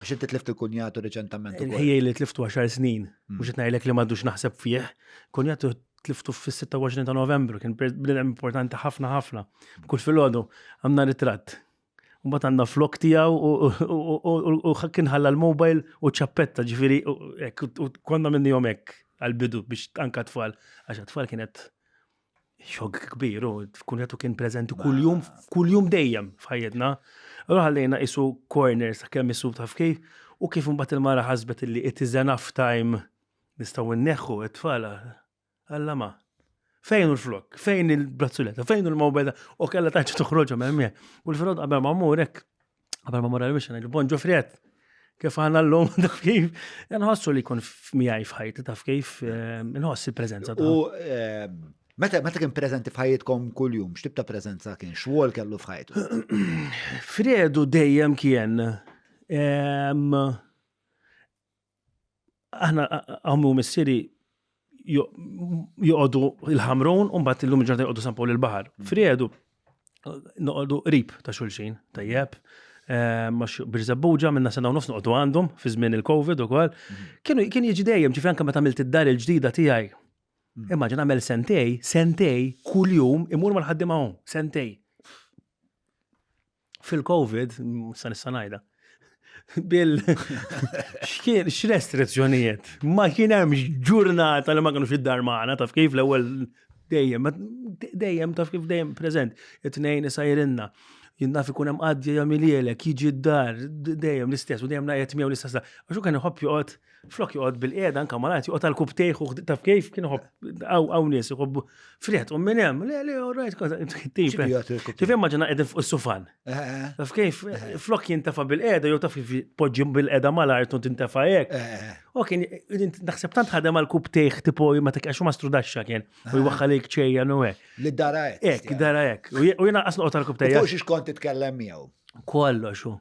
Għax inti tlift il-kunjatu reċentament. Il-ħijaj li tliftu 10 snin, mm. mhux qed ngħidlek li m'għadux naħseb fih, kunjatu tliftu fis-26 ta' Novembru, kien bnedem importanti ħafna ħafna. Kull filgħodu għandna ritratt. Mbagħad għandna flok tiegħu u kien ħalla l-mobile u ċappetta ġifieri konna minnihom hekk għal-bidu biex anka tfal, għax tfal kienet xog kbir, u tkun jatu kien prezenti kull-jum, kull-jum dejjem f'ħajjetna. Allora ħallejna isu corners ta' kemm isu taf kif, u kif mbagħad il-mara ħasbet li it is enough time nistgħu nneħħu it-tfala. Alla ma. Fejn u l-flok? Fejn il-brazzuletta? Fejn u l-mobile? U kella taċċa toħroġhom hemm. U l-frod qabel ma mmur hekk Għabel ma morra l-wixen, il-bon ġufriet, kif għanna l-lum, taf kif, nħossu li kun miħaj fħajt, taf kif, eh, nħoss il-prezenza. U eh, meta meta kien prezenti fħajtkom kull-jum, xtib ta' prezenza kien, xwol kellu fħajt? Fredu dejjem kien, aħna għammu missiri joqodu il-ħamrun un bat il-lum ġurnata joqodu sampu l-bahar. Mm. Friedu, noqodu rib ta' xulxin, tajjeb, eh, max birżabbuġa minna sena u nofs noqodu għandhom fi żmien il-Covid u kol. Mm. Kienu kien jiġi dejjem ġifri anke meta għamilt id-dar il-ġdida tiegħi. Mm. Immaġin għamel sentej, sentej, kuljum imur mal-ħaddim hawn, sentej. fil-Covid, sa nista' ngħidha, bil xkien x'restrizzjonijiet. Ma kien hemm ġurnata li ma kienux id-dar magħna taf kif l-ewwel dejjem, dejjem taf kif dejjem preżent, it-tnejn isajrinna. Jinnaf ikun hemm qaddja jagħmilielek, jiġi d-dar, dejjem l-istess, u dejjem naqgħet miegħu l-istess. Għax u kien iħobb joqgħod Flok joqgħod bil-qiegħda anke malajt joqgħod għal kub tejħu taf kif kien iħobb hawn nies iħobbu friħet u minn hemm le le orajt kont tip. Kif immaġina qegħdin fuq is-sufan. Eh, eh, eh. Taf kif flok jintefa' bil-qiegħda jew taf kif poġġi bil-qiegħda mal-art u tintefa' hekk. U kien naħseb tant ħadem għal kub tejħ tipo ma tikkax ma strudaxxa kien u jwaħħalik ċejja no hekk. Li dara hekk. Hekk dara hekk. U jiena qasnoqgħod għal kub tejja. Mhux kont titkellem miegħu. Kollox